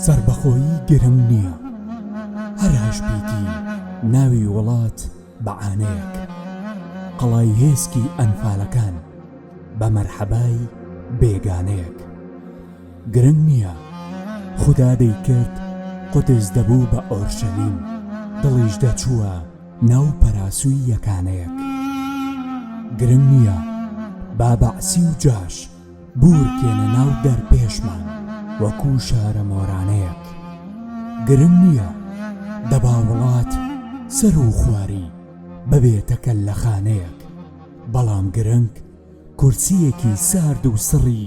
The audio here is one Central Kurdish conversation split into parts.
سەربەخۆیی گرنگ نییە هەر هەشبیتی ناوی وڵات بە عانەیەک قەڵای هێسکی ئەنفالەکان بە مەرحەبای بێگانەیەک گرنگ نییە خودا دەیکرد قودس دەبوو بە ئۆرشەلیم دڵیش دەچووە ناو پەراسوی یەکانەیەک گرنگ نییە با بەعسی و جاش بورکێنە ناو دەرپێشمان وەکو شارە مۆرانەیەک گرنگ نییە دەبا وڵات سەر و خواری ببێتەکە لە خانەیەک بەڵام گرنگ کورسیەکی سارد و سڕی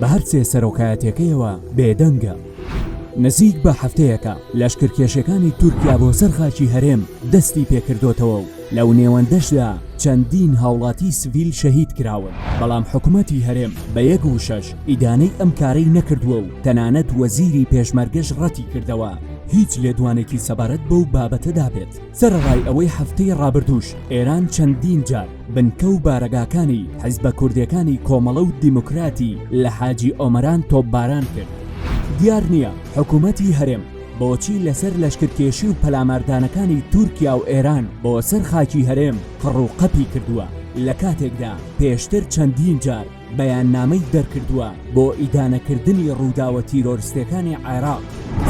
بە هەر سێ سەرۆکایەتیەکەیەوە بێدەنگە. نزیک بە هەفتەیەکە لەشکرکێشیەکانی تورکیا بۆ سەر خاکی هەرێم دەستی پێکردۆتەوە و لەو نێوەندەشدا چەندین هاوڵاتی سڤیل شەهید کراون، بەڵام حکومەتی هەرێم بە یەک وشەش ئیدانەی ئەم کارەی نەکردووە و تەنانەت وەزیری پێشمەرگەش ڕەتی کردەوە هیچ لێدوانێکی سەبارەت بەو بابەتەدا بێت. سەرەڕای ئەوەی هەفتەی ڕابردووش ئێران چەندین جار بنکە و بارەگاکانی حیزبە کوردیەکانی کۆمەڵە و دیموکراتی لە حاجی ئۆمەران تۆپباران کرد، دیار نییە حکوومەتی هەرێم بۆچی لەسەر لەشکرکێشی و پەلاماردانەکانی تورکیا و ئێران بۆ سەر خاکی هەرێم قڕ و قەپی کردووە، لە کاتێکدا پێشتر چەندین جار. بەیاننامەی دەرکردووە بۆ ئیدانەکردنی ڕووداوە تیرۆرستێکانی عێراق.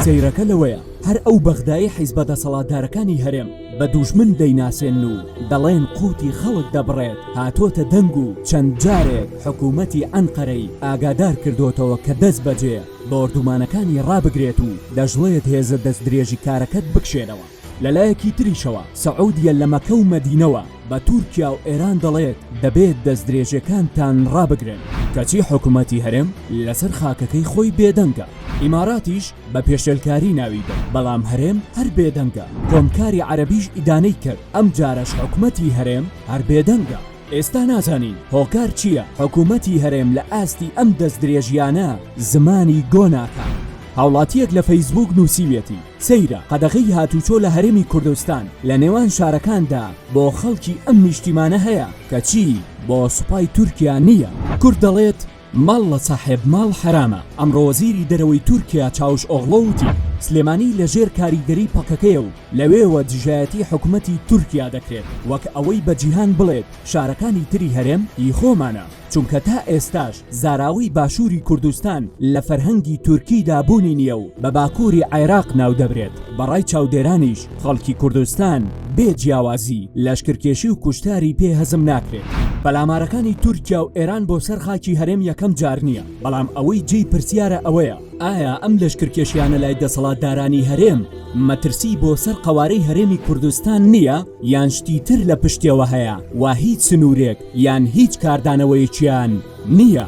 سەیرەکە لەوەیە هەر ئەو بەغدایەی حیزبە دەسەڵاتدارەکانی هەرێم بە دوژمن دەیناسێنن و دەڵێن قوتی خەڵک دەبڕێت هاتۆتە دەنگ و چەند جارێک حکوومەتی ئەنقەرەی ئاگادار کردۆتەوە کە دەست بەجێ بۆردومانەکانی ڕابگرێت و دەشڵێت هێزە دەستدرێژیکارەکەت بکشێنەوە. لەلایەکی تریشەوە سعودیە لە مەکە و مەدینەوە بە تورکیا و ئێران دەڵێت دەبێت دەستدرێژیەکانتان ڕابگرن، کەچی حکومەتی هەرێم لەسەر خاکەکەی خۆی بێدەنگە، ئیماراتیش بە پێشێلکاری ناوی برد، بەڵام هەرێم هەر بێدەنگە، کۆمکاری عەرەبیش ئیدانەی کرد، ئەمجارەش حکومەتی هەرێم هەر بێدەنگە، ئێستا نازانین هۆکار چییە حکومەتی هەرێم لە ئاستی ئەم دەستدرێژیانە زمانی گۆ ناکات. هاوڵاتییەک لە فەیسبووک نووسیویەتی، سەیرە قەدەغەی هاتوچۆ لە هەرێمی کوردستان لە نێوان شارەکاندا بۆ خەڵکی ئەم نیشتیمانە هەیە کەچی بۆ سوپای تورکیا نییە. کورد دەڵێت ماڵ لە ساحێب ماڵ حەرامە، ئەمڕۆ وەزیری دەرەوەی تورکیا چاوش ئۆغڵۆ وتی سلێمانی لە ژێر کاریگەری پەکەکەیە و لەوێوە دژایەتی حکومەتی تورکیا دەکرێت وەک ئەوەی بە جیهان بڵێت شارەکانی تری هەرێم هی خۆمانە. چونکە تا ئێستاش زاراوەی باشووری کوردستان لە فەرهەنگی تورکیدا بوونی نییە و بە باکووری عێراق ناو دەبرێت، بە ڕای چاودێرانیش خەڵکی کوردستان بێ جیاوازی لەشکرکێشی و کوشتاری پێ هەزم ناکرێت. پەلامارەکانی تورکیا و ئێران بۆ سەر خاکی هەرێم یەکەم جار نییە، بەڵام ئەوەی جێی پرسیارە ئەوەیە، ئایا ئەم لەشکرکێشیانە لای دەسەڵاتدارانی هەرێم مەترسی بۆ سەر قەوارەی هەرێمی کوردستان نییە یان شتی تر لە پشتیەوە هەیە و هیچ سنوورێک یان هیچ کاردانەوەیەکیان نییە.